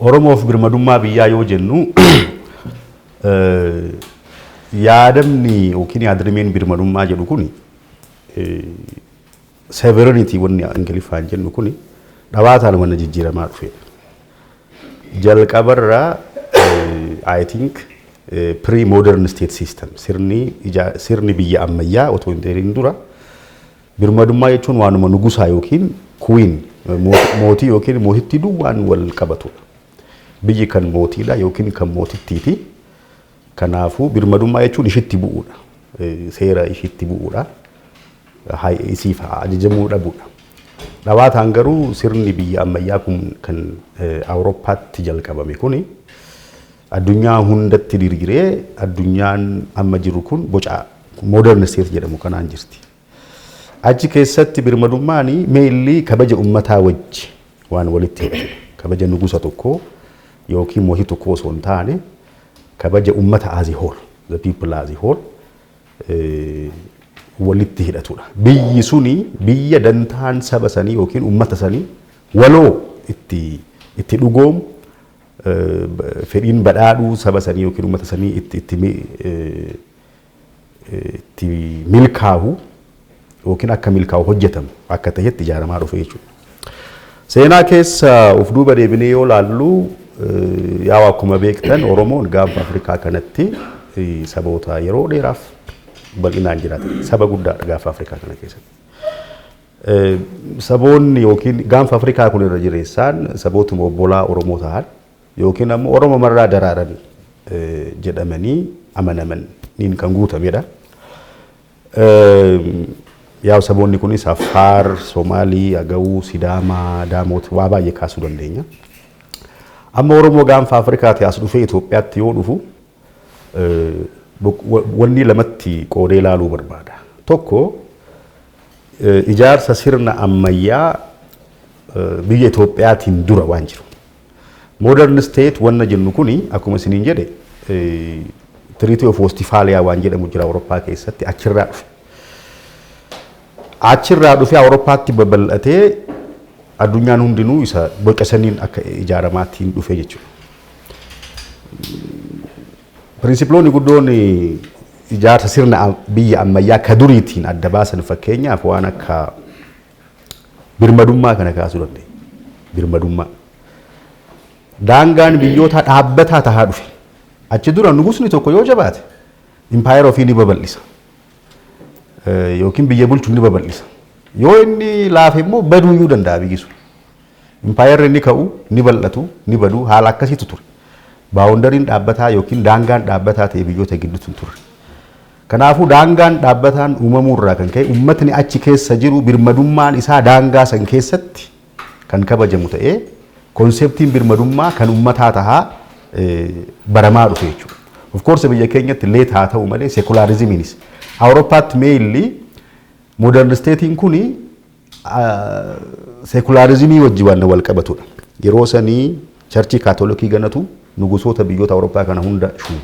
Oromoof birmadummaa biyyaa yoo jennu yaadamni yookiin yaadrimeen birmadummaa jedhu kun severinitii wanni Ingiliffaan jennu kun dhabaataan wanna jijjiiramaa dhufeedha. Jalqabarraa I think pre-modern state system sirni biyya ammayyaa otoo hin dheerin dura Birmadummaa jechuun waanuma nugusaa yookiin kuwiin mootii yookiin mootittii duwwaan wal qabatudha. Biyyi kan mootiidha yookiin kan mootittiiti. Kanaafuu birmadummaa jechuun ishitti bu'uudha. Seera ishitti bu'uudha. Isiif ajajamuu dhabuudha. Dhawaataan garuu sirni biyya ammayyaa kun kan Awurooppaatti jalqabame kuni Addunyaa hundatti dirgiree addunyaan amma jirru kun boca modern state jedhamu kanaan jirti. Achi keessatti birmadummaan meelli kabaja ummataa wajji waan walitti hidhatudha. Kabaja nugusa tokkoo yookiin mootii tokkoo osoo hin taane kabaja ummata as a whole, the people as a whole walitti hidhatudha. Biyyi suni biyya dantaan saba sanii yookiin ummata sanii waloo itti itti dhugoomu fedhiin badhaadhuu saba sanii yookiin uummata sanii itti itti itti milkaahu yookiin akka milkaahu hojjetamu akka ta'etti ijaaramaa dhufe jechuudha. Seenaa keessa of duuba deebinee yoo laallu yaa akkuma beektan Oromoon gaanfa Afrikaa kanatti saboota yeroo dheeraaf bal'inaan jiraatan saba guddaadha gaanfa Afrikaa kana keessatti. Saboonni yookiin gaanfa Afrikaa kun irra jireessaan sabootuma obbolaa Oromoo tahan yookiin ammoo Oromo marraa daraaran jedhamanii amanaman niin kan guutame dha. Yaa'u saboonni kunis Affaar, Somaalii, Agawuu, Sidaamaa, Daamoot waa baay'ee kaasuu dandeenya. Amma Oromoo gaanfa Afrikaatii as dhufee Itoophiyaatti yoo dhufu Wanni lamatti qoodee ilaaluu barbaada. Tokko ijaarsa sirna ammayyaa biyya Itoophiyaatiin dura waan jiru. Modern state wanna jennu kuni akkuma isiniin jedhe Treaty of Westphalia waan jedhamu jira Awurooppaa keessatti achirraa dhufe. Achirraa dhufee Awurooppaatti babal'atee addunyaan hundinuu isa boca saniin akka ijaaramaattiin dhufe jechuudha. Pirinsiploonni guddoon ijaarsa sirna biyya ammayyaa ka duriitiin adda baasan fakkeenyaaf waan akka birmadummaa kana kaasuu dandeenya. Birmadummaa. Daangaan biyyootaa dhaabbataa tahaa dhufe. Achi dura nugusni tokko yoo jabaate impaayera ofii ni babal'isa. Yookiin biyya bulchu ni babal'isa. Yoo inni laafe immoo baduu iyyuu danda'a biyyi sun. Impaayerri ni ka'u, ni bal'atu, ni badu, haala akkasiitu ture. Baawondariin dhaabbataa ykn daangaan dhaabbataa ta'e biyyoota gidduutti hin turre. Kanaafuu daangaan dhaabbataan uumamuu irraa kan ka'e uummatni achi keessa jiru birmadummaan isaa daangaa san keessatti kan kabajamu ta'ee konseptiin birmadummaa kan uummataa tahaa baramaa dhufe jechuudha. Of course biyya keenyatti leet haa ta'u malee sekulaarizimiinis Awurooppaatti meeyilli modern isteetiin kun Seekulaarizimii wajji wanna wal qabatudha. Yeroo sanii charchii kaatolikii ganatu nugusoota biyyoota Awurooppaa kana hunda shuuma.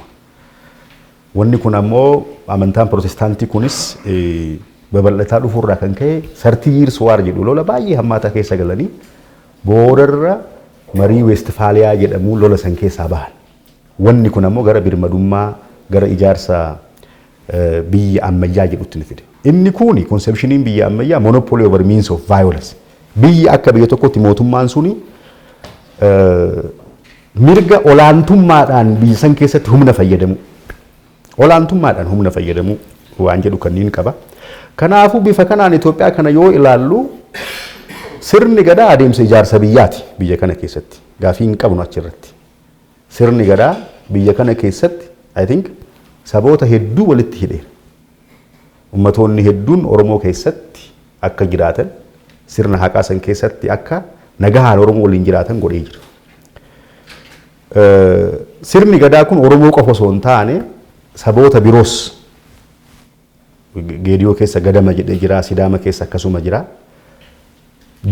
Wanni kun ammoo amantaan Pirotestaantii kunis babal'ataa dhufuurraa kan ka'e sartii yiirs waar jedhu lola baay'ee hammaataa keessa galanii boodarra marii Weestifaaliyaa jedhamuun lola san keessaa bahan. Wanni kun ammoo gara birmadummaa, gara ijaarsa biyya ammayyaa jedhutti na fide. Inni kuuni, konsepshiniin biyya ammayyaa, monopoly over means of violence. Biyyi akka biyya tokkotti mootummaan suni mirga olaantummaadhaan biyya san keessatti humna fayyadamuu. Olaantummaadhaan humna fayyadamuu waan jedhu kanniin qaba. Kanaafuu bifa kanaan Itoophiyaa kana yoo ilaallu sirni gadaa adeemsa ijaarsa biyyaati biyya kana keessatti. Gaafii hin qabnu achirratti. Sirni Gadaa biyya kana keessatti I think saboota hedduu walitti hidheera. Ummatoonni hedduun Oromoo keessatti akka jiraatan, sirna haqaa san keessatti akka nagahaan Oromoo waliin jiraatan godhee jira. Sirni Gadaa kun Oromoo qofa osoo hin taane saboota biroos Geediyoo keessa gadama jedhee jira, Sidaama keessa akkasuma jira.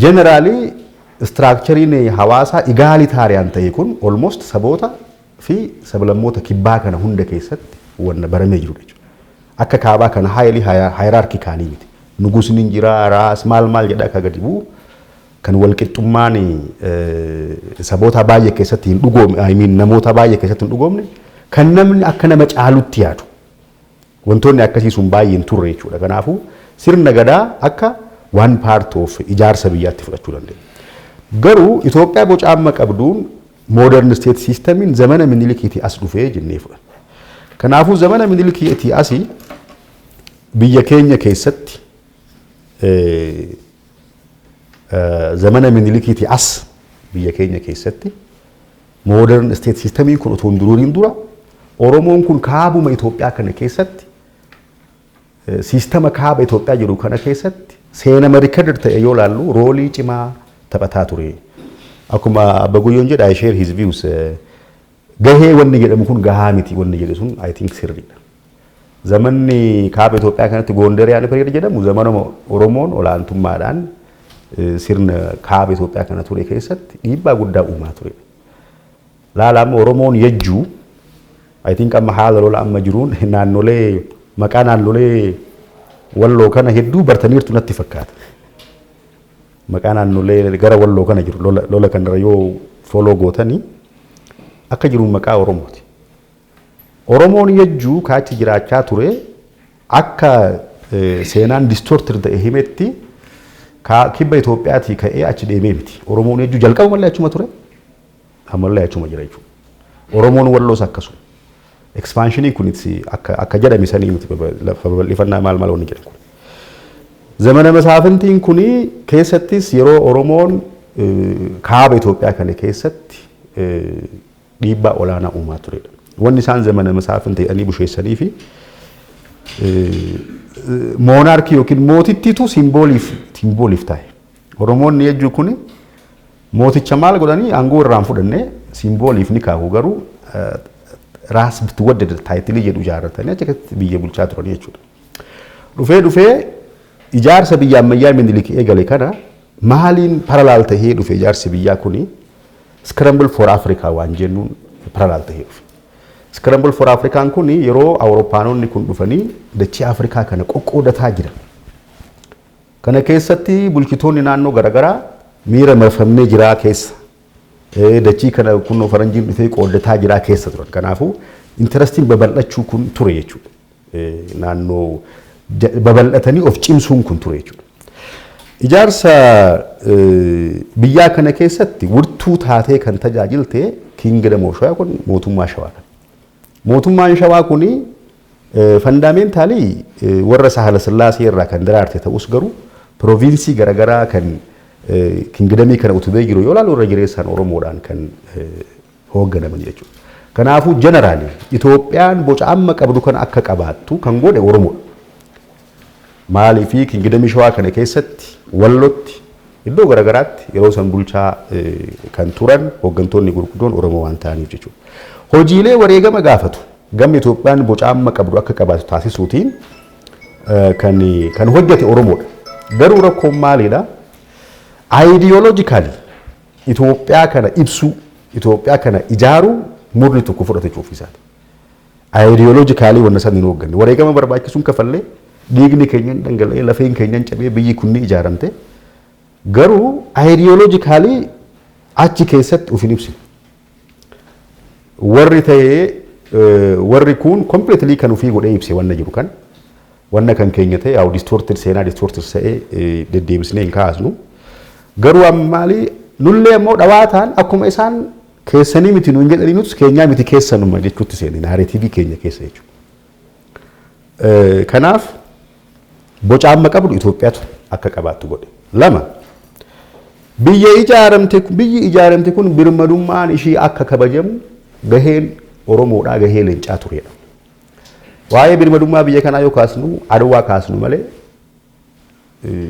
Generally istiraakchariin hawaasaa igaalitarian ta'e kun almost saboota fi sablammoota kibbaa kana hunda keessatti wanna baramee jirudha jechuudha. Akka kaabaa kana highly hierarchical miti. Nugusni hin jira, raas maal maal jedha akka gadi bu'u kan walqixxummaan saboota baay'ee keessatti hin dhugoomne, I mean namoota baay'ee keessatti hin dhugoomne kan namni akka nama caalutti yaadu. Wantoonni akkasii sun baay'ee hin turre jechuudha. Kanaafuu sirna gadaa akka one part of ijaarsa biyyaatti fudhachuu dandeenya. Garuu Itoophiyaa boca amma qabduun modern state systemiin zamana minilikiitii as dhufee jennee fudhanna. Kanaafuu zamana minilikiitii asi biyya keenya keessatti zamana minilikiitii as biyya keenya keessatti Modern state system kun otoo hin duruuriin dura Oromoon kun kaabuma Itoophiyaa kana keessatti siistama kaaba Itoophiyaa jiru kana keessatti seenama rikadar ta'e yoo laallu roolii cimaa taphataa ture. Akkuma Abba Guyyoon jedha I share his views. Gahee wanni jedhamu kun gahaa miti wanni jedhu sun I think sirriidha. Zamanni kaaba Itoophiyaa kanatti Goondariyaani period jedhamu zamanuma Oromoon olaantummaadhaan sirna kaaba Itoophiyaa kana ture keessatti dhiibbaa guddaa uumaa ture. Laala amma Oromoon yajjuu I think amma haala lola amma jiruun naannolee maqaa naannolee walloo kana hedduu bartaniirtu natti fakkaata. Maqaa naannolee gara walloo kana jiru lola kanarra yoo foloo gootanii akka jiru maqaa Oromooti. Oromoon yajjuu ka achi jiraachaa ture akka seenaan distorted ta'e himetti ka kibba Itoophiyaatii ka'ee achi deemee miti. Oromoon yajjuu jalqabumallee achuma ture ammallee achuma jira jechuudha. Oromoon walloos akkasuma. Expansionii kunis akka akka jedhame sanii miti baba- lafa babal'ifannaa maal maal wanni jedhan kun. Zamana masaafintiin kun keessattis yeroo Oromoon eh, kaaba Itoophiyaa kana keessatti eh, dhiibbaa olaanaa uumaa turedha. Wanni isaan zamana masaafinta jedhanii busheessanii fi moonaarkii yookiin mootittiitu simbooliif simbooliif taa'e. Oromoonni jechuun kun mooticha maal godhanii aangoo irraan fudhannee simbooliif ni kaahu garuu raas bitwaddada taayitilii jedhu ijaarratanii achi keessatti biyya bulchaa turan jechuudha. Dhufee dhufee ijaarsa biyya ammayyaa minilik eegale kana maaliin paralaal tahee dhufe ijaarsi biyyaa kuni Scramble for Africa waan jennuun parallel ta'ee dhufe. Scramble for Africa kun yeroo Awurooppaanonni kun dhufanii dachee Afrikaa kana qoqqoodataa jiran. Kana keessatti bulchitoonni naannoo garaagaraa miira marfamnee jiraa keessa eh, dachii kana kunoo faranjiin dhufee qooddataa jiraa keessa turan. Kanaafuu intarastiin babal'achuu kun ture jechuudha. naannoo babal'atanii of cimsuun kun ture jechuudha. Ijaarsa biyyaa kana keessatti wirtuu taatee kan tajaajilte Kingdom of Shawaa kun mootummaa Shawaadha. Mootummaan Shawaa kun fandaameentalii warra Sahala Sillaasee irraa kan daraarte ta'us garuu pirooviinsii garaagaraa kan kingidamii kana utubee jiru yoo ilaalu irra jireessaan Oromoodhaan kan hoogganaman jechuudha. Kanaafuu jeneraalii Itoophiyaan boca amma qabdu kana akka qabaattu kan godhe Oromoodha. Maaliifii kingidamii shawaa kana keessatti wallotti iddoo garaagaraatti yeroo san bulchaa kan turan hooggantoonni gurguddoon Oromoo waan ta'aniif jechuudha. Hojiilee wareegama gaafatu gamni Itoophiyaan boca amma qabdu akka qabaatu taasisuutiin kan kan hojjete Oromoodha. Garuu rakkoon maalidha? Ayidiyooloojikaalii Itoophiyaa kana ibsuu, Itoophiyaa kana ijaaruu murni tokko fudhate jechuuf isaati. Ayidiyooloojikaalii wanna san hin hoogganne. Wareegama barbaachisuun kafallee dhiigni keenya hin dhangala'ee lafeen keenya hin cabee biyyi kun ni ijaaramte. Garuu ayidiyooloojikaalii achi keessatti of hin ibsine. Warri ta'ee warri kuun completely kan ofii godhee ibse wanna jiru kan wanna kan keenya ta'e yaa'u distorted seenaa distorted ta'ee deddeebisnee hin kaasnu. Garuu amma maali nullee immoo dhawaataan akkuma isaan keessanii miti nuun jedhanii nutis keenyaa miti keessanuma jechuutti seene naareetiivii keenya keessa jechuudha. Kanaaf boca amma qabdu Itoophiyaatu akka qabaattu godhe. Lama biyya ijaaramte biyyi ijaaramte kun birmadummaan ishii akka kabajamu gaheen Oromoodhaa gahee leencaa tureedha. Waa'ee birmadummaa biyya kanaa yoo kaasnu Adwaa kaasnu malee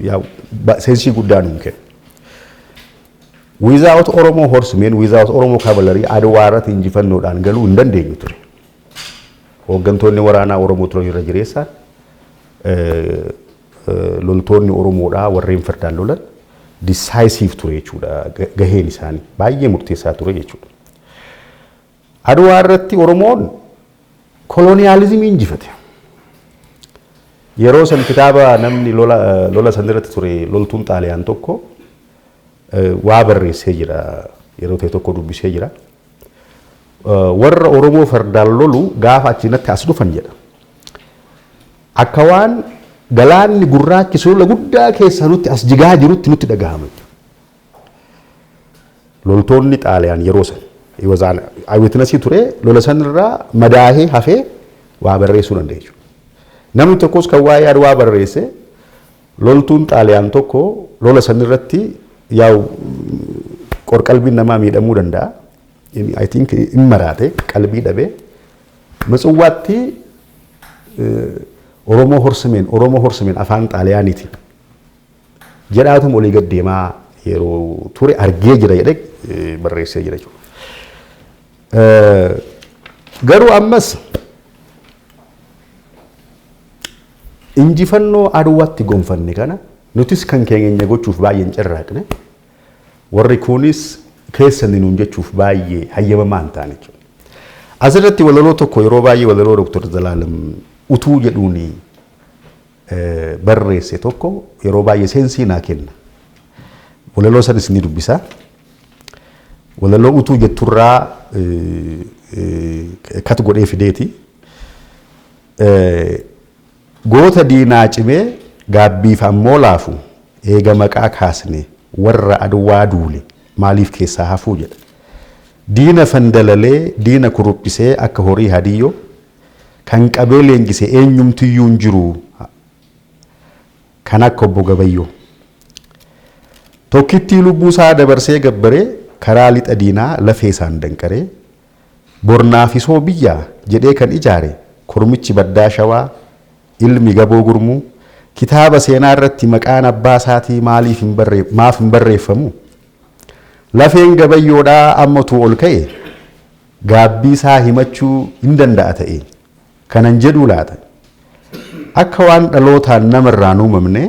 yaa'u ba- seensii guddaa nuun kenna. Without Oromoo horsemen, without Oromoo cavalry Adwaa irratti injifannoodhaan galuu hin dandeenyu ture. Hooggantoonni waraanaa Oromoo turan irra jireessaan eh, eh, loltoonni Oromoodhaa warreen fardaan lolan decisive ture jechuudha ga- gaheen isaanii baay'ee murteessaa ture jechuudha. Adwaa irratti Oromoon koloniyaalizimii injifate. Yeroo san kitaaba namni lola lola san irratti ture loltuun Xaaliyaan tokko eh, waa barreessee jira. Yeroo ta'e tokko dubbisee jira. Eh, Warra Oromoo fardaan lolu gaafa achiinatti as dhufan jedha. Akka waan galaanni gurraachi sulula guddaa keessaa nutti as jigaa jirutti nutti dhagahama. Loltoonni Xaaliyaan yeroo san he was an eyewitness ture lola san irraa madaahee hafee waa barreessuu danda'e jechuudha. Namni tokkos kan waa'ee Adwaa barreesse loltuun Xaaliyaan tokko lola san irratti yaa'u qorqalbiin namaa miidhamuu danda'a. I think in maraate qalbii dhabee Matsawwaatti Oromoo horsimeen Oromoo horsimeen afaan Xaaliyaaniitiin jedhaatuma olii gad deemaa yeroo ture argee jira jedhee eh, barreessee jira jechuudha. Eh, Garuu ammas injifannoo aduwaatti gonfanne kana nutis kan keenya gochuuf baay'ee hin carraaqne warri kunis keessan nuun jechuuf baay'ee hayyamamaa hin taane jechuudha. Asirratti walaloo tokko yeroo baay'ee walaloo Dr. Zalaalam utuu jedhuuni barreesse tokko yeroo baay'ee seensii naa kenna. Walaloo sanis ni dubbisa. Walaloo utuu jetturraa kat godhee fideeti. Goota diinaa cimee gaabbiif ammoo laafu eega maqaa kaasne warra adwaa duule maaliif keessaa hafuu jedha. Diina fandalalee diina kuruphisee akka horii hadiyyoo Kan qabee leenjise eenyumtiyyuu hin jiru kan akka Obbo Gabayyoo. Tokkittii lubbuu isaa dabarsee gabbare karaa lixa diinaa lafee isaan danqaree, bor naafisoo biyyaa jedhee kan ijaare kormichi baddaa Shawaa, ilmi Gaboo Gurmuu, kitaaba seenaa irratti maqaan abbaa isaatii maaliif hin barree, maaf hin barreeffamu? Lafeen Gabayyoodhaa amma utuu ol ka'e, gaabbii isaa himachuu hin danda'a ta'ee? Kanan jedhuu laata? Akka waan dhalootaan nama irraa hin uumamne,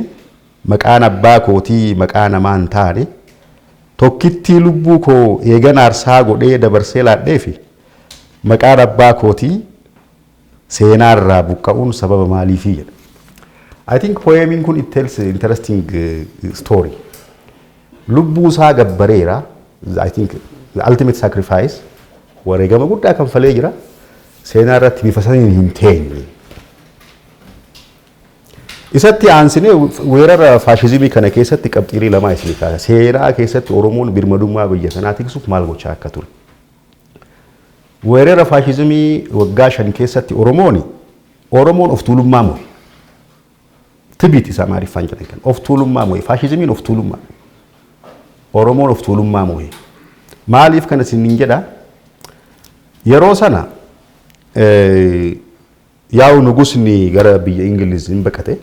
maqaan abbaa kootii maqaa namaa hin taane, tokkittii lubbuu koo eegan aarsaa godhee dabarsee laadheefi? Maqaan abbaa kootii Seenaa irraa buqqa'uun sababa maaliifi jedha. I think poemiin kun it tells interesting eh, story. Lubbuu isaa gabbareera. I think the ultimate sacrifice wareegama guddaa kan falee jira. Seenaa irratti bifa saniin hin teenye. Isatti aansinee weerara faashizimii kana keessatti qabxiilee lamaa isinii kaasa. Seenaa keessatti Oromoon birmadummaa biyya sanaa tiksuuf maal gochaa akka ture. Weerera faashizimii waggaa shan keessatti Oromooni Oromoon of tuulummaa mo'e. Tibit isa Amaariffaan jedhan kan of tuulummaa mo'e. Faashizimiin of tuulummaa. Oromoon of tuulummaa mo'e. Maaliif kana isin hin jedha? Yeroo sana eh, Yaa'u nugusni gara biyya Ingiliz in baqate.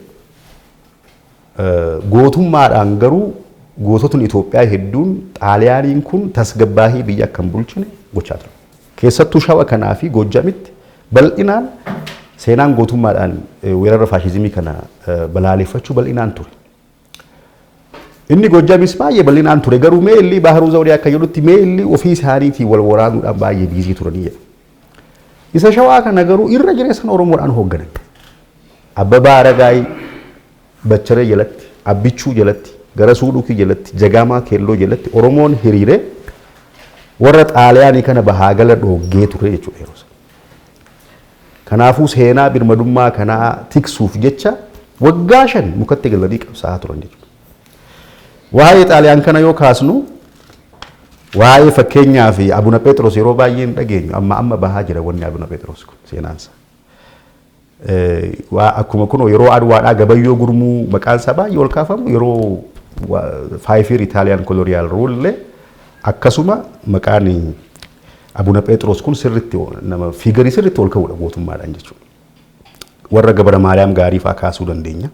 Gootummaadhaan garuu goototni Itoophiyaa hedduun Xaaliyaaniin kun tasgabbaahii biyya akka hin bulchine gochaa ture. Keessattuu Shawa kanaa fi Goojjamitti bal'inaan seenaan gootummaadhaan weerara faashizimii kana balaaleffachuu bal'inaan ture. Inni Gojjamis baay'ee bal'inaan ture garuu meelli Baharuu Zawdee akka jedhutti meelli ofii isaaniitiin wal waraanuudhaan baay'ee biizii turanii jedha. Isa shawaa kana garuu irra jireessan Oromoodhaan hoogganan. Abbabaa Aragaay Bacharee jalatti, Abbichuu jalatti, Garasuu Dhukii jalatti, Jagaamaa Keelloo jalatti Oromoon hiriiree warra Xaaliyaanii kana bahaa gala dhooggee ture jechuudha yeroo sana. Kanaafuu seenaa birmadummaa kanaa tiksuuf jecha waggaa shan mukatti galanii qabsaa'aa turan jechuudha. Waa'ee Xaaliyaan kana yoo kaasnu waa'ee fakkeenyaa fi Abuna Pheexiroos yeroo baay'ee hin dhageenyu amma amma bahaa jira wanni Abuna Pheexiroos kun seenaansa. Waa akkuma kunoo yeroo Adwaadhaa Gabayyoo Gurmuu maqaan isaa baay'ee ol kaafamu yeroo faayifiir Italian colonial rule illee akkasuma maqaan Abuna Pheexiroos kun sirritti nama fiigarii sirritti ol ka'uudha gootummaadhaan jechuudha. Warra Gabra Maariyaam gaarii fa'aa kaasuu dandeenya.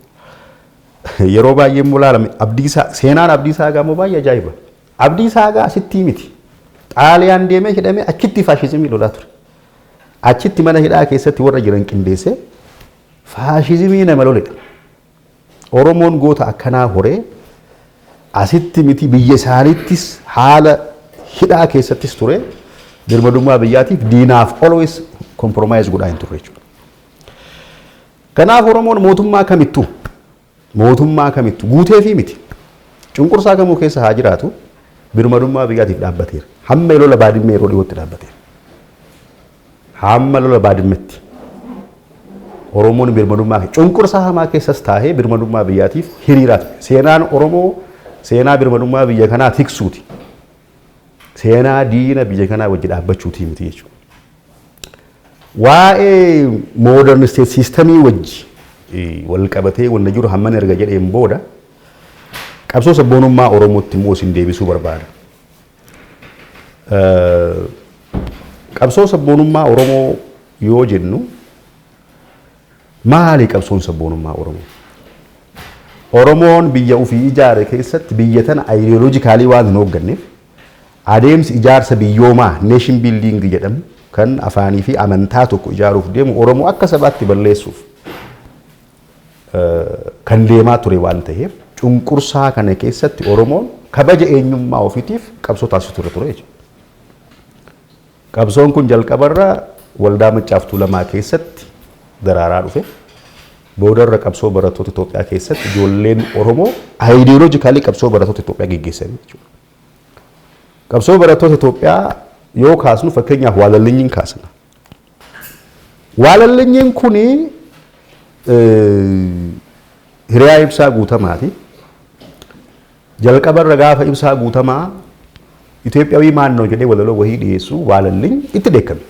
Yeroo baay'ee immoo ilaalame abdiisaa seenaan abdiisaa egaa immoo baay'ee ajaa'iba. Abdii Saagaa asittii miti. Xaaliyaan deemee hidhamee achitti faashizimii lolaa ture. Achitti mana hidhaa keessatti warra jiran qindeessee faashizimii nama loledha. Oromoon goota akkanaa horee asitti miti biyya isaaniittis haala hidhaa keessattis ture birmadummaa biyyaatiif diinaaf always compromise godhaa hin turre jechuudha. Kanaaf Oromoon mootummaa kamittuu Mootummaa kamittu guuteefii miti. Cunqursaa kamuu keessa haa jiraatu birmadummaa biyyaatiif dhaabbateera. Hamma lola Baadimmee yeroo dhiyootti dhaabbateera. Hamma lola Baadimmetti Oromoon birmadummaa cunqursaa hamaa keessas taa'ee birmadummaa biyyaatiif hiriiraa ture. Seenaan Oromoo seenaa birmadummaa biyya kanaa tiksuuti. Seenaa diina biyya kanaa wajji dhaabbachuutii miti jechuudha. Waa'ee modern state system wajji wal qabatee wanna jiru hamman erga jedheen booda qabsoo sabboonummaa Oromootti immoo isin deebisuu barbaada. Qabsoo sabboonummaa Oromoo yoo jennu maali qabsoon sabboonummaa Oromoo? Oromoon biyya ofii ijaare keessatti biyya tana ideologically waan hin hoogganneef Adeemsi ijaarsa biyyoomaa, nation building, jedhamu kan afaanii fi amantaa tokko ijaaruuf deemu Oromoo akka sabaatti balleessuuf kan deemaa ture waan ta'eef cunqursaa kana keessatti Oromoon kabaja eenyummaa ofiitiif qabsoo taasisu ture ture jechuudha. Qabsoon kun jalqabarra Waldaa Maccaaf Tuulamaa keessatti daraaraa dhufe. Boodarra qabsoo barattoota Itoophiyaa keessatti ijoolleen Oromoo ideologically qabsoo barattoota Itoophiyaa geggeessan jechuudha. Qabsoo barattoota Itoophiyaa yoo kaasnu fakkeenyaaf waalallinyiin kaasna. Waalallinyiin kun hiriyaa ibsaa guutamaati. Jalqaba irra gaafa Ibsaa Guutamaa Itoophiyawii maannoo jedhee walaloo wahii dhiyeessu waalalliin itti dheekkame.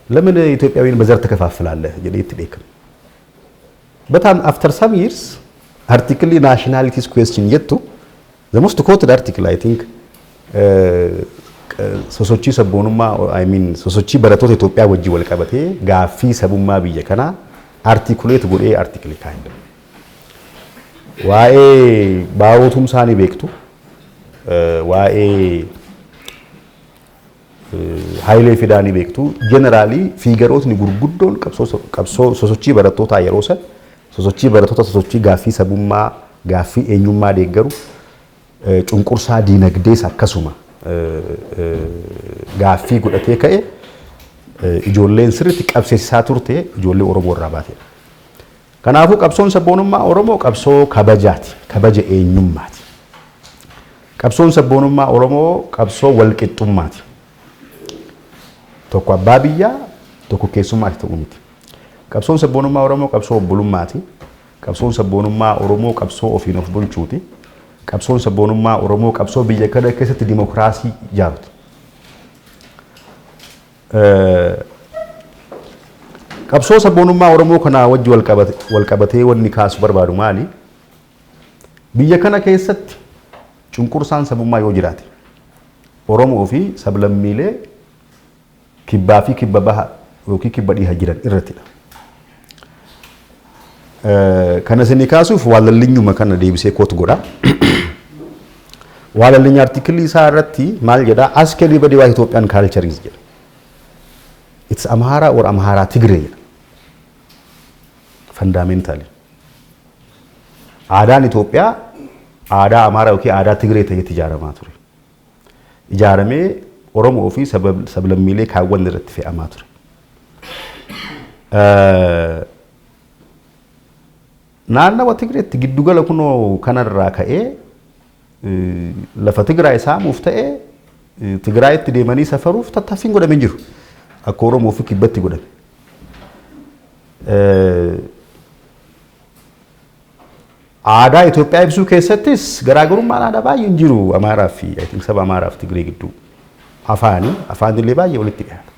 Lamin Itoophiyawiin bazar takafaaffalaalla jedhee itti dheekkame. But um, after some years, article nationalities question jettu, the most quoted article I think, uh, sosochii sabboonummaa I mean sosochii barattoota Itoophiyaa wajjin wal qabatee gaaffii sabummaa biyya kanaa articulate godhee article kaa'e. Waa'ee Baaroo Tumsaa ni beektu. Waa'ee Hayilee Fidaa ni beektu. Jeneraalii fiigarootni gurguddoon qabsoo sosochii barattootaa yeroo san sosochii barattoota sosochii gaaffii sabummaa gaaffii eenyummaa deeggaru cunqursaa diinagdees akkasuma gaaffii godhatee ka'e ijoolleen sirriitti qabsiisaa turte ijoollee Oromoo irraa baatedha. Kanaafuu qabsoon sabboonummaa Oromoo qabsoo kabajaati, kabaja eenyummaati. Qabsoon sabboonummaa Oromoo qabsoo walqixxummaati. Tokko abbaa biyyaa, tokko keessummaati ta'uu miti. Qabsoon sabboonummaa Oromoo qabsoo obbolummaati. Qabsoon sabboonummaa Oromoo qabsoo ofiin of bulchuuti. Qabsoon sabboonummaa Oromoo qabsoo biyya kana keessatti dimokiraasii ijaaruuti. Qabsoo sabboonummaa Oromoo kanaa wajji wal qabatee wanni kaasu barbaadu maali? Biyya kana keessatti cunqursaan sabummaa yoo jiraate Oromoo fi sablammiilee kibbaa fi kibba baha yookiin kibba dhiha jiran irrattidha. Kana isinii kaasuuf waalallinyuma kana deebisee koot godha. Waalallinya artikilii isaa irratti maal jedha? Ask everybody what Ethiopian culture is jedha. It's Amhara or Amhara Tigre jedha. Fundamentally. Aadaan Itoophiyaa aadaa Amaaraa yookiin aadaa Tigree ta'etti ijaaramaa ture. ijaaramee Oromoo fi sablammiilee kaawwan irratti fe'amaa ture. Naannawa Tigreetti giddugala kunoo kanarraa ka'ee lafa Tigraay saamuuf ta'ee Tigraayitti deemanii safaruuf tattaaffiin godhame jiru. Akka Oromoo fi kibbatti godhame. Aadaa Itoophiyaa ibsuu keessattis garaagarummaan aadaa baay'een jiru Amaaraa fi I think saba Amaaraa fi Tigree gidduu. Afaanii, afaan illee baay'ee walitti dhiyaata.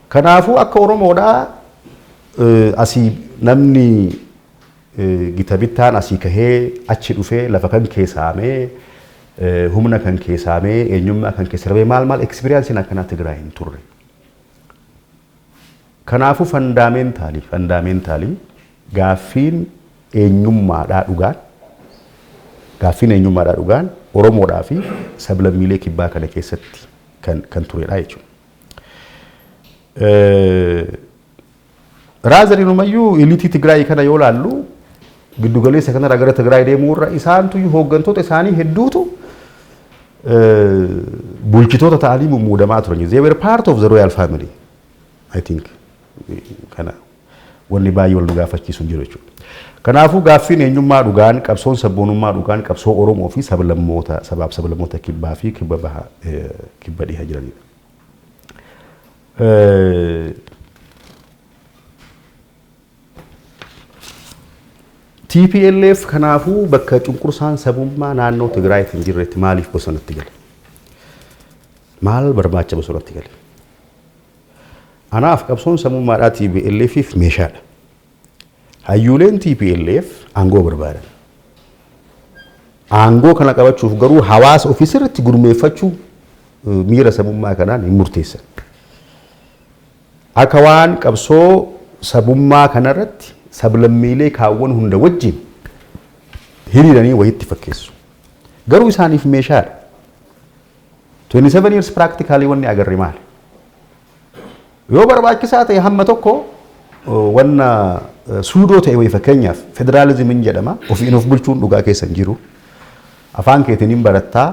Kanaafuu akka Oromoodhaa eh, asii namni eh, gita bittaan asii kahee achi dhufee lafa kan keessaamee eh, humna kan keessaamee eenyummaa kan keessaamee maal maal ekspiriyaansiin akkanaa Tigraay hin turre. Kanaafuu fandaameentalii, fundamentally, gaaffiin eenyummaadhaa dhugaan, gaaffiin eenyummaadhaa dhugaan Oromoodhaa fi sablammiilee kibbaa kana keessatti kan kan turedha jechuudha. Raazar inumayyuu ilitii Tigraay kana yoo laallu giddugaleessa kanarraa gara Tigraay deemuu irra isaantu hooggantoota isaanii hedduutu bulchitoota ta'anii mummuudamaa turan. They were part of the royal family. I think kana wanni baay'ee wal nu gaafachiisu hin jiru jechuudha. Kanaafuu gaaffiin eenyummaa dhugaan qabsoon sabboonummaa dhugaan qabsoo Oromoo fi sablammoota sabaaf sablammoota kibbaa fi kibba baha kibba dhiha jiranidha. Tplf kanaafuu bakka cunqursaan sabummaa naannoo Tigraayitti hin jirretti maaliif bosonatti gale? Maal barbaacha bosonatti gale? Anaaf qabsoon sabummaadhaa TPLFif meeshaadha. Hayyuuleen TPLF aangoo barbaadan. Aangoo kana qabachuuf garuu hawaasa ofii sirriitti gurmeeffachuu miira sabummaa kanaan hin murteessan. Akka waan qabsoo sabummaa kana irratti sablammiilee kaawwan hunda wajjin hiriiranii wayiitti fakkeessu. Garuu isaaniif meeshaa dha. 27 years practically wanni agarre maali? Yoo barbaachisaa ta'e hamma tokko wanna suudoo ta'e wayii fakkeenyaaf federaalizimiin jedhama ofiin of bulchuun dhugaa keessa hin jiru. Afaan keetiin hin barattaa,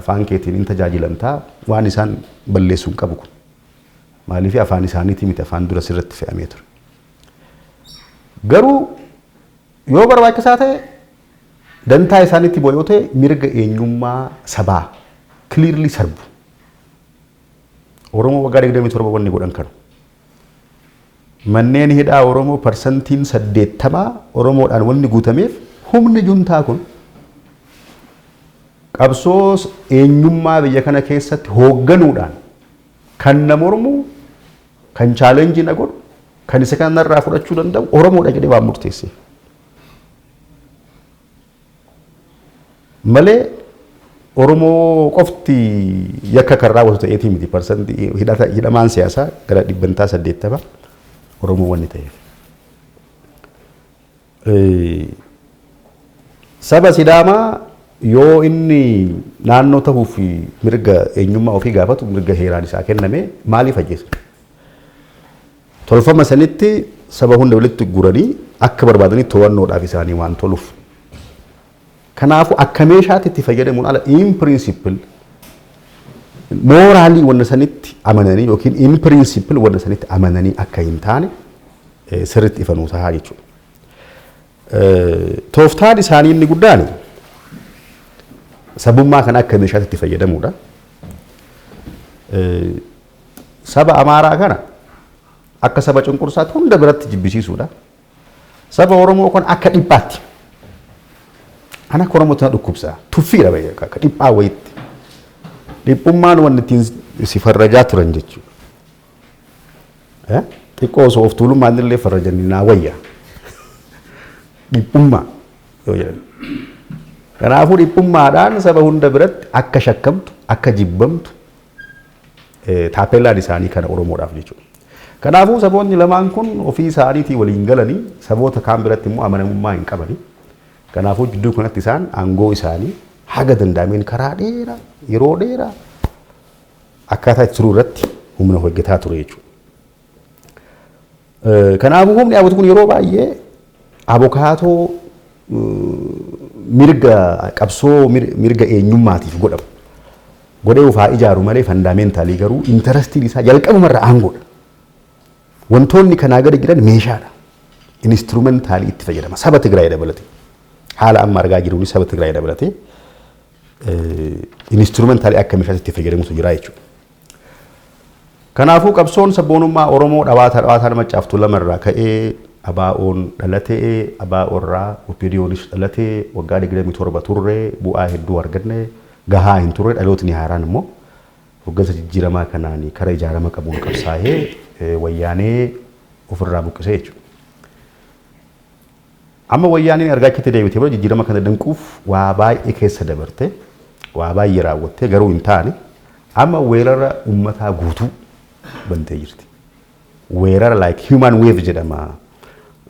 afaan keetiin hin tajaajilamtaa waan isaan balleessuun qabu kun. Maaliif afaan isaaniitii miti afaan dura sirratti fe'amee ture. Garuu yoo barbaachisaa ta'e dantaa isaaniitti bu'a yoo ta'e mirga eenyummaa sabaa clearly sarbu. Oromoo waggaa 27 wanni godhan kanu. Manneen hidhaa Oromoo parsantiin 80 Oromoodhaan wanni guutameef humni juntaa kun qabsoo eenyummaa biyya kana keessatti hoogganuudhaan Kan na mormu, kan challenge na godhu, kan isa kana narraa fudhachuu danda'u Oromoodha jedhee waan murteesseef. Malee Oromoo qofti yakka kan raawwatu ta'eetii miti. Parsantii hidhata- hidhamaan siyaasaa gara dhibbantaa saddeettama Oromoo wanni ta'eef. Saba Sidaamaa yoo inni naannoo ta'uu fi mirga eenyummaa ofii gaafatu mirga heeraan isaa kenname maaliif ajjeesan? Tolfama sanitti saba hunda walitti guranii akka barbaadanii to'annoodhaaf isaanii waan toluuf Kanaafuu akka meeshaatti itti fayyadamuun ala in principle mooraalii wanna sanitti amananii yookiin in principle wanna sanitti amananii akka hin taane eh, sirriitti ifa nuu tahaa jechuudha. Eh, Tooftaan isaanii inni guddaan sabummaa kana akka meeshaatti itti fayyadamuudha. Eh, Saba Amaaraa kana akka saba cunqursaatti hunda biratti jibbisiisuudha. Saba Oromoo kun akka dhiphaatti. Ana akka Oromootti na dhukkubsa. Tuffiidha baay'ee akka dhiphaa wayiitti. Dhiphummaan wanti ittiin si farrajaa turan jechuudha. Eh? Xiqqoo osoo of tuulummaan illee farrajanii naa wayya. Dhiphummaa yoo jedhan. Kanaafuu dhiphummaadhaan saba hunda biratti akka shakkamtu, akka jibbamtu, Taappeellaan isaanii kana Oromoodhaaf jechuudha. Kanaafuu saboonni lamaan kun ofii isaaniitii waliin galanii saboota kaan biratti immoo amanamummaa hin qabani. Kanaafuu jidduu kanatti isaan aangoo isaanii haga danda'ameen karaa dheeraa yeroo dheeraa akkaataa itti turuu irratti humna hojjetaa ture jechuudha. Kanaafuu humni abut kun yeroo baay'ee abokaatoo mirga qabsoo mirga eenyummaatiif godhamu godhee ufaa ijaaru malee fandaameentalii garuu intarastiin isaa jalqabumarra aangoodha. Wantoonni kanaa gadi jiran meeshaadha. Instrumentaalii itti fayyadama. Saba Tigraay dabalatee. Haala amma argaa jiruun saba Tigraay dabalatee instrumentaalii akka meeshaatti itti fayyadamutu jira jechuudha. Kanaafuu qabsoon sabboonummaa Oromoo dhawaata dhawaataan Maccaaf Tuulama irraa ka'ee ABOn dhalate, ABO irraa OPDOnis dhalate, waggaa 27 turre, bu'aa hedduu arganne, gahaa hin turre, dhalootni haaraan immoo hoggansa jijjiiramaa kanaan kara ijaarama qabuun qabsaahee wayyaanee ofirraa buqqisee jechuudha. Amma Wayyaaneen erga achitti deebitee booda jijjiirama kana danquuf waa baay'ee keessa dabartee, waa baay'ee raawwattee garuu hin taane amma weerara ummataa guutuu bantee jirti. Weerara like human wave jedhama.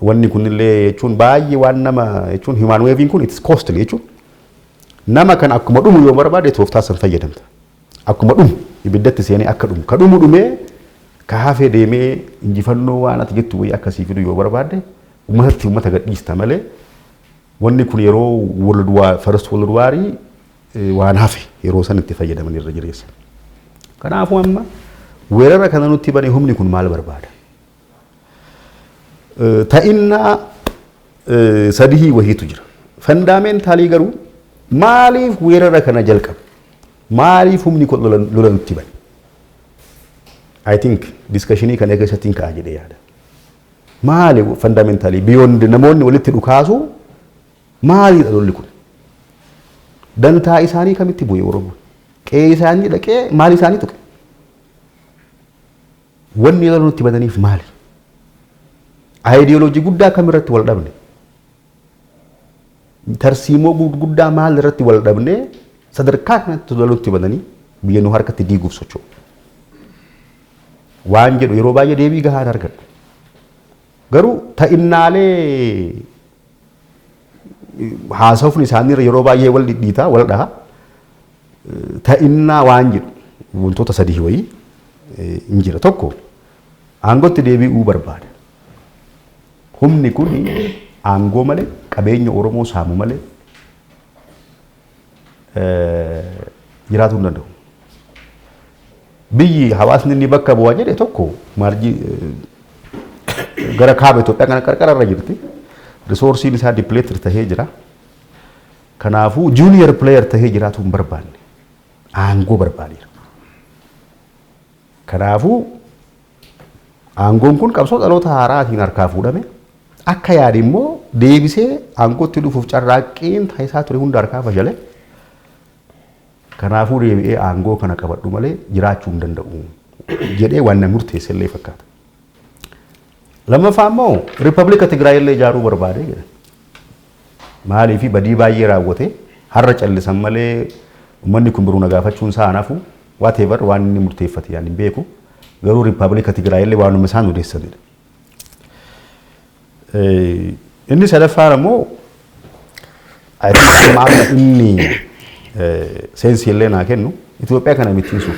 Wanni kunillee jechuun baay'ee waan nama jechuun human wave'n kun it's costly jechuun nama kan akkuma dhumu yoo barbaade tooftaa san fayyadamta. Akkuma dhumu ibiddatti seenee akka dhumu ka dhumu dhumee ka hafe deemee injifannoo waan ati jettu wayii akka sii fidu yoo barbaadde ummatatti ummata gadhiista malee wanni kun yeroo world war first world war waan hafe yeroo san itti fayyadaman irra jireessa. Kanaafuu amma weerara kana nutti bane humni kun maal barbaada? Ta'innaa sadihii wahiitu jira. Fandaameentalii garuu maaliif weerara kana jalqabe? Maaliif humni kun lola nutti bane? I think diskashinii kana keessatti hin ka'a jedhee yaada. Maali fandaameentalii biyyoonni namoonni walitti dhukaasu maaliidha lolli kun? Dantaa isaanii kamitti bu'e Oromoon? Qe'ee isaanii dhaqee maal isaanii tuqe? Wanni yeroo nutti badaniif maali? Ideology guddaa kam irratti wal dhabne? Tarsiimoo guddaa maal irratti wal dhabne sadarkaa kanatti lola nutti badanii biyya nu harkatti diiguuf socho'u. Waan jedhu yeroo baay'ee deebii gahaa hin argadhu. Garuu ta'innaalee haasofni isaanii yeroo baay'ee wal dhidhiita, wal dhaha. Ta'innaa waan jedhu wantoota sadii wayii hin jira. Tokko aangootti deebi'uu barbaada. Humni kun aangoo malee qabeenya Oromoo saamu malee jiraatuu hin danda'u. Biyyi hawaasni inni bakka bu'aa jedhe tokko maarjii gara kaaba Itoophiyaa kana qarqara irra jirti. Risoorsiin isaa dipileetir tahee jira. Kanaafuu juuniyer pileeyer tahee jiraatuu hin barbaanne. Aangoo barbaadeera. Kanaafuu, aangoon kun qabsoo dhaloota haaraatiin harkaa fuudhame. Akka yaade immoo deebisee aangootti dhufuuf carraaqqiin taasisaa ture hunda harkaa fashale. Kanaafuu deebi'ee aangoo kana qabadhu malee jiraachuu hin danda'u jedhee waan na murteesse illee fakkaata. Lammaffaa immoo Riippablika Tigraay illee ijaaruu barbaade jedha. Maaliif badii baay'ee raawwate har'a callisan malee ummanni kun biruu na gaafachuun isaa hanafu whatever waan inni murteeffate ani hin beeku garuu riippaabilika Tigraay illee waanuma isaan odeessanidha. Inni sadaffaan ammoo I think amma amma inni seensi illee naa kennu Itoophiyaa kana bittinsuuf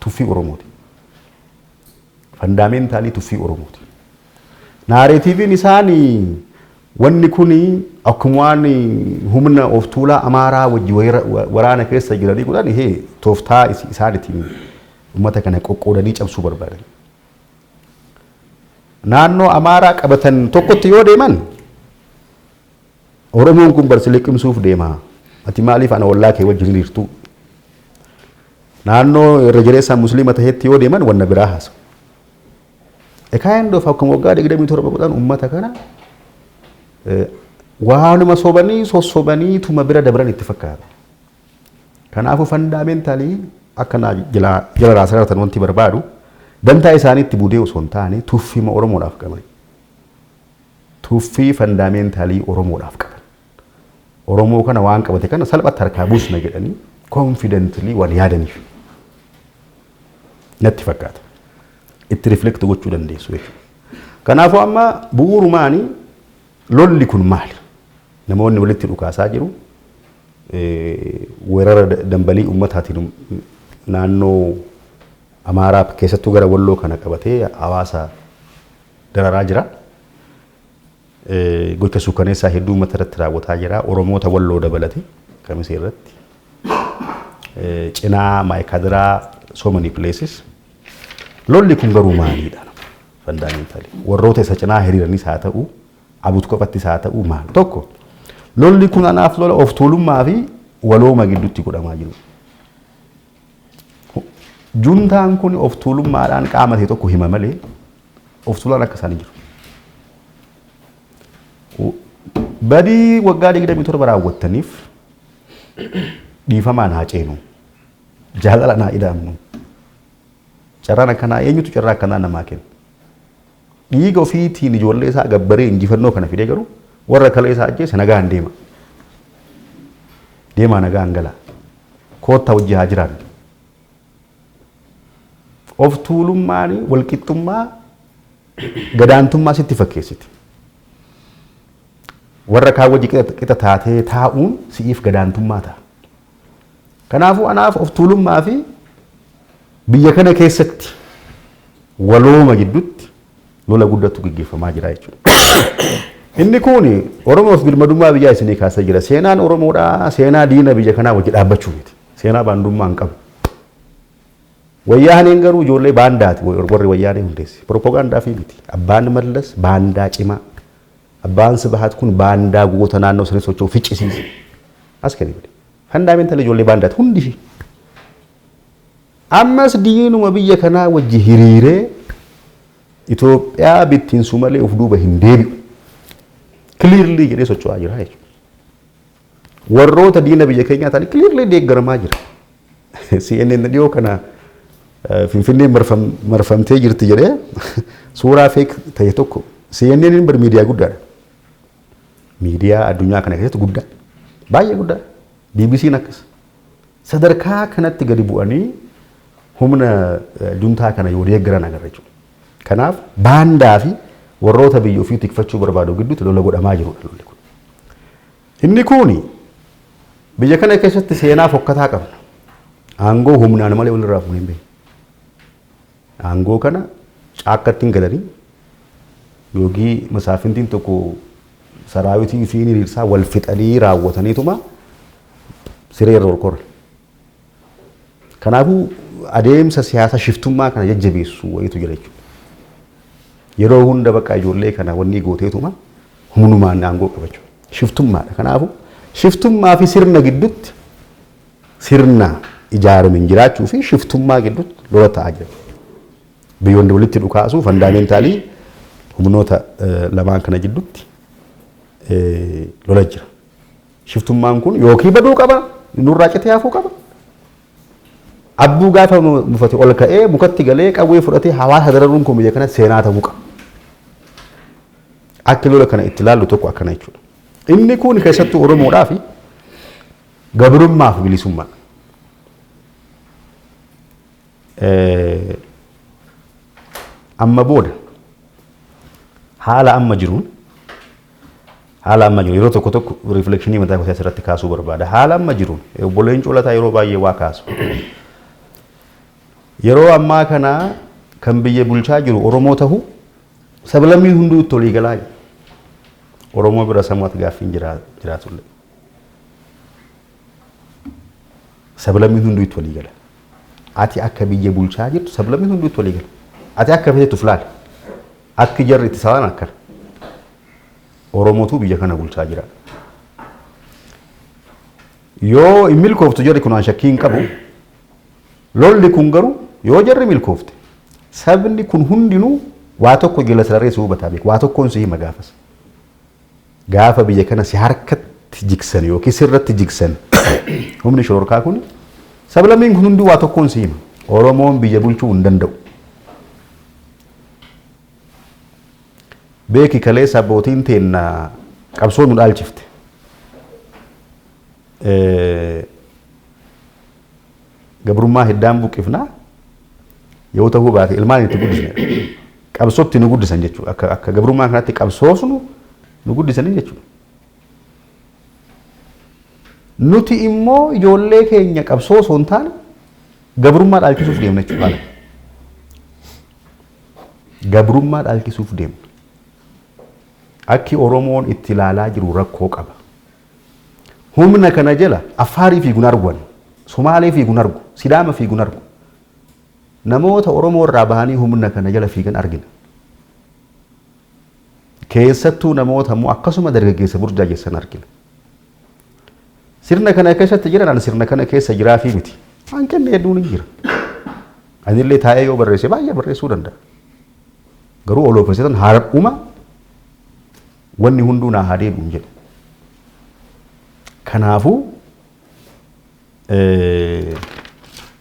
tuffii Oromooti. Fandaameentalii tuffii Oromooti. Naareetiiviin isaan wanni kun akkuma waan humna of tuulaa Amaaraa wajji waraana keessa jiranii godhan hee tooftaa isaan ittiin uummata kana qoqqoodanii cabsuu barbaadan. Naannoo Amaaraa qabatan tokkotti yoo deeman Oromoon kun bar si liqimsuuf deema. Ati maaliif ana ollaa kee wajjin hiriirtuu? Naannoo irra jireessaan musliima tahetti yoo deeman wanna biraa haasawu. A kind of akkuma waggaa 27 godhan uummata kana eh, waanuma sobanii sossobanii tuma bira dabran itti fakkaata. Kanaafuu fandaameentalii akka naa jala jala naa sarartan wanti barbaadu dantaa isaaniitti budee osoo hin taane tuffima Oromoodhaaf qabani. Tuffii fandaameentalii Oromoodhaaf qaban. Oromoo kana waan qabate kana salphatti harkaa buusna jedhanii confidently waan yaadaniif natti fakkaata. Itti reflect gochuu dandeessu jechuudha. Kanaafuu amma bu'uurumaani lolli kun maali? Namoonni walitti dhukaasaa jiru. Weerara dambalii uummataatiin naannoo Amaaraa keessattuu gara Walloo kana qabatee hawaasa dararaa jira. Gocha suukaneessaa hedduu uummata irratti raawwataa jira. Oromoota walloo dabalate kamisee irratti. Cinaa maayikaadiraa so many places. Lolli kun garuu maaliidha? Fandaameentalii. Warroota isa cinaa hiriiranis haa ta'u, abut kophattis haa ta'u maal? Tokko lolli kun anaaf lola of tuulummaa fi walooma gidduutti godhamaa jiru. Juntaan kun of tuulummaadhaan qaama ta'e tokko hima malee of tuulaan akka isaanii jiru. Badii waggaa 27 raawwattaniif dhiifamaan haa ceenu. Jaalalaan haa ida'amnu. Carraan akkanaa eenyutu carraa akkanaa namaa kenna? Dhiiga ofiitiin ijoollee isaa gabbaree injifannoo kana fidee garuu warra kalee isaa ajjeese nagaan deema. Deemaa nagaan gala. Koottaa hojii haa jiraannu. Of tuulummaan walqixxummaa gadaantummaa sitti fakkeessiti. Warra kaan wajji qixa taatee taa'uun si'iif gadaantummaa ta'a. Kanaafuu anaaf of tuulummaa fi biyya kana keessatti walooma gidduutti lola guddatu gaggeeffamaa jira jechuudha. Inni kun Oromoof birmadummaa biyyaa isinii kaasa jira. Seenaan Oromoodhaa seenaa diina biyya kanaa wajji dhaabbachuu miti. Seenaa baandummaa hin qabu. Wayyaaneen garuu ijoollee baandaati warri wayyaanee hundeesse. Propagaandaa fi miti. Abbaan Mallas baandaa cimaa Abbaan Sibahat kun baandaa goota naannoo sanii socho'u ficcisiise. As kani godhe. Fandaameental ijoollee baandaati hundi ishii. Ammas diinuma biyya kanaa wajji hiriiree Itoophiyaa bittinsu malee of duuba hin deebi'u. Kiliirlii jedhee socho'aa jira jechuudha. Warroota diina biyya keenyaa ta'an kiliirlii deeggaramaa jira. CNN dhiyoo kana Finfinnee marfamtee jirti jedhee suuraa feek ta'e tokko CNN bar miidiyaa guddaadha. Miidiyaa addunyaa kana keessatti guddaa baay'ee guddaa BBC'n akkas sadarkaa kanatti gadi bu'anii humna juntaa kana yoo deeggaran agarra jechuudha. Kanaaf baandaa fi warroota biyya ofii tikfachuu barbaadu gidduutti lola godhamaa jirudha lolli kun. Inni kun biyya kana keessatti seenaa fokkataa qabna. Aangoo humnaan malee walirraa fuunee hin beeknu. Aangoo kana caakkatti hin galanii yoogii masaafintiin tokko saraawitii fi hiriirsaa wal fixanii raawwataniituma siree irra ol koran. Kanaafuu adeemsa siyaasa shiftummaa kana jajjabeessu wayiitu jira jechuudha. Yeroo hunda bakka ijoollee kana wannii gooteetuma humnumaan aangoo qabachu. Shiftummaadha. Kanaafuu shiftummaa fi sirna giddutti sirna ijaaramen jiraachuu fi shiftummaa giddutti lola ta'aa jira. Biyyoonni walitti dhukaasuu fandaameentalii humnoota lamaan kana jiddutti lola jira. Shiftummaan kun yookii baduu qaba, nurraa citee hafuu qaba. Abbuu gaafa mufate ol ka'ee mukatti galee qawwee fudhatee hawaasa dararuun kun biyya kana seenaa ta'uu qaba. Akka lola kana itti ilaallu tokko akkana jechuudha. Inni kun keessattuu Oromoodhaaf gabrummaa fi bilisummaa. Amma booda haala amma jiruun Haala amma jiru yeroo tokko tokko riiflekshinii mataa koo asirratti kaasuu barbaada. Haala amma jiru obbo Leencoo Lataa yeroo baay'ee waa kaasu. Yeroo ammaa kana kan biyya bulchaa jiru Oromoo tahu sablammiin hunduu itti olii galaa Oromoo bira samuwaat gaaffiin jiraatullee. Sablammiin hunduu itti walii gala. Ati akka biyya bulchaa jirtu sablammiin hunduu itti walii gala. Ati akka feetu of laali. Akki jarri itti sabaan akkana. Oromootu biyya kana bulchaa jira. Yoo hin milkooftu jarri kun aan shakkii hin qabu. Lolli kun garuu yoo jarri milkoofte sabni kun hundinuu waa tokko jala sarareessu hubataa beeku. Waa tokkoon si hima gaafas. Gaafa biyya kana si harkatti jigsan yookiin sirratti jigsan humni shororkaa kun sablammiin kun hunduu waa tokkoon si hima. Oromoon biyya bulchuu hin danda'u. Beeki kaleessa abbootiin teenna qabsoo nu dhaalchifte. Gabrummaa hiddaan buqqifna yoo tahuu baate ilmaan itti guddisne qabsootti nu guddisan jechuudha. Akka, akka gabrummaa kanatti qabsoosnu nu guddisanii jechuudha. Nuti immoo ijoollee keenya qabsoo osoo hin taane gabrummaa dhaalchisuuf deemna jechuudha. Gabrummaa dhaalchisuuf deemna. Akki Oromoon itti ilaalaa jiru rakkoo qaba. Humna kana jala Affaarii fiigu hin argu ani. Sumaalee fiigu hin argu. Sidaama fiigu hin argu. Namoota Oromoo irraa bahanii humna kana jala fiigan argina. Keessattuu namoota immoo akkasuma dargaggeessa burjaajessan argina. Sirna kana keessatti jiran ani sirna kana keessa jiraafii miti. Hanqinni hedduun hin jira. Anillee taa'ee yoo barreesse baay'ee barreessuu danda'a. Garuu oloofesetan har'uma Wanni hunduu naa haa deebi'u hin jedhu. Kanaafuu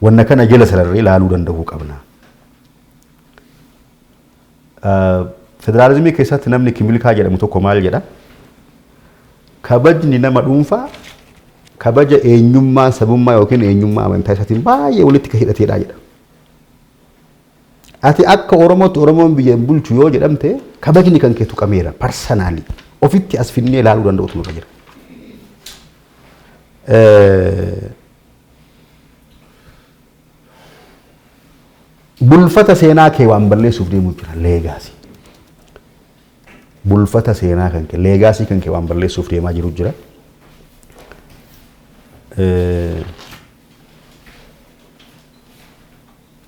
wanna kana jala sararree laaluu danda'uu qabna. Federaalizimii keessatti namni kimilkaa jedhamu tokko maal jedha? Kabajni nama dhuunfaa kabaja eenyummaa sabummaa yookiin eenyummaa amantaa isaatiin baay'ee walitti kan hidhateedha jedha. Ati akka Oromootti Oromoon biyya hin bulchu yoo jedhamte kabajni kan kee tuqameera parsanaalii ofitti as finnee ilaaluu danda'utu nurra jira. Bulfata seenaa kee waan balleessuuf deemuu jira leegaasii. Bulfata seenaa kan kee leegaasii kan kee waan balleessuuf deemaa jiru jira.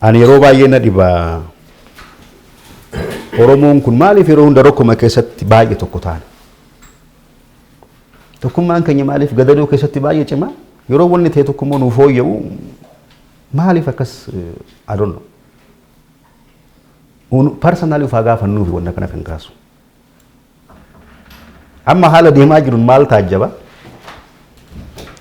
Ani yeroo baay'ee na dhiba. Oromoon kun maaliif yeroo hunda rakkoo keessatti baay'ee tokko taana? Tokkummaan keenya maaliif gadadoo keessatti baay'ee cima? Yeroo wanni ta'e tokko immoo nuuf fooyya'u maaliif akkas adonno? Parsanaalii of haa gaafannuufi wanna kana kan kaasu. Amma haala deemaa jiruun maal taajjaba?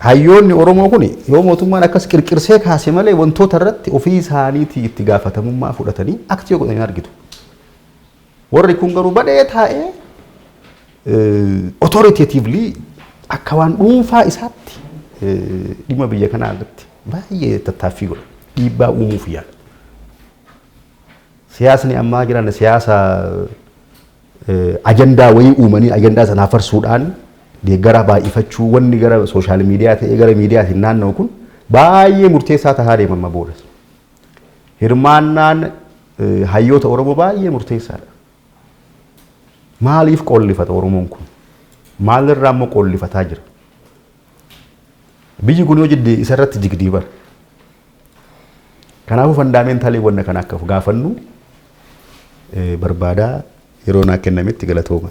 Hayyoonni Oromoo kun yoo mootummaan akkas qirqirsee kaase malee wantoota irratti ofii isaaniitii itti gaafatamummaa fudhatanii aktii godhanii argitu. Warri kun garuu badhee taa'ee authoritatively akka waan dhuunfaa isaatti dhimma biyya kanaa irratti baay'ee tattaaffii godha. Dhiibbaa uumuuf yaala. Siyaasni ammaa jiran siyaasa ajandaa wayii uumanii ajandaa sana hafarsuudhaan deeggaraa baay'ifachuu wanni gara sooshaal miidiyaa ta'ee gara miidiyaatiin naanna'u kun baay'ee murteessaa tahaa deema amma booda. Hirmaannaan hayyoota Oromoo baay'ee murteessaadha. Maaliif qoollifata Oromoon kun? Maalirraa immoo qoollifataa jira? Biyyi kun yoo jidde isarratti jigdii bara. Kanaafuu fandaameentalii wanna kana akka of gaafannu barbaada yeroo naa kennametti galatooma.